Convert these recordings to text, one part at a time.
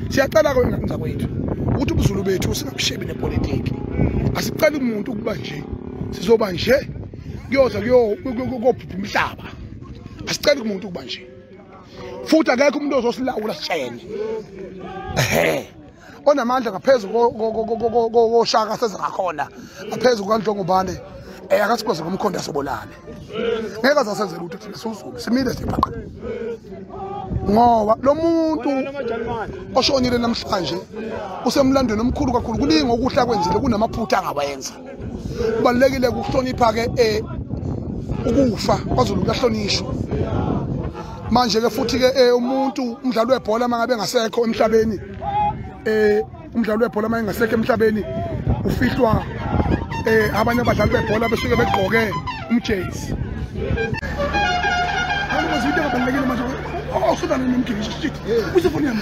siyacela kwenza kwethu ukuthi ubuzulu bethu singabushebi nepolitiki asiceli umuntu ukuba nje sizoba nje kuyoza kuyobhubha umhlaba asiceli kumuntu ukuba nje futhi akekho umuntu ozosilawula sishayene ehe onamandla ngaphezu koshaka seze ngakhona ngaphezu kukanhlongubane um akasikwazi ngomkhondo asobolane ngeke azasenze lutho thina siwuzulu simile sibhaqa ngoba lo muntu oshonile namhlanje usemlandweni omkhulu kakhulu kuningi okuhle akwenzile kunamaphutha angawenza kubalulekile ukuhlonipha-ke um ukufa kwazulu kuyahlonishwa manje-ke futhi-ke um umuntu umdlali webhola uma ngabe engasekho emhlabeni um umdlali webhola uma engasekho emhlabeni ufihlwa um abanye abadlali bebhola besuke begqoke umjezi awusubalani nomgibisho shit usefonini yami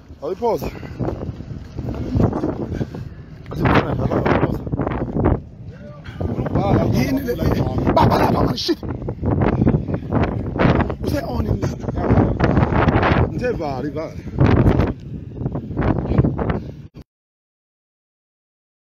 Awuyiphoza. Yini le? Baba lapha man shit. Use on in this. Ngithe vali vali.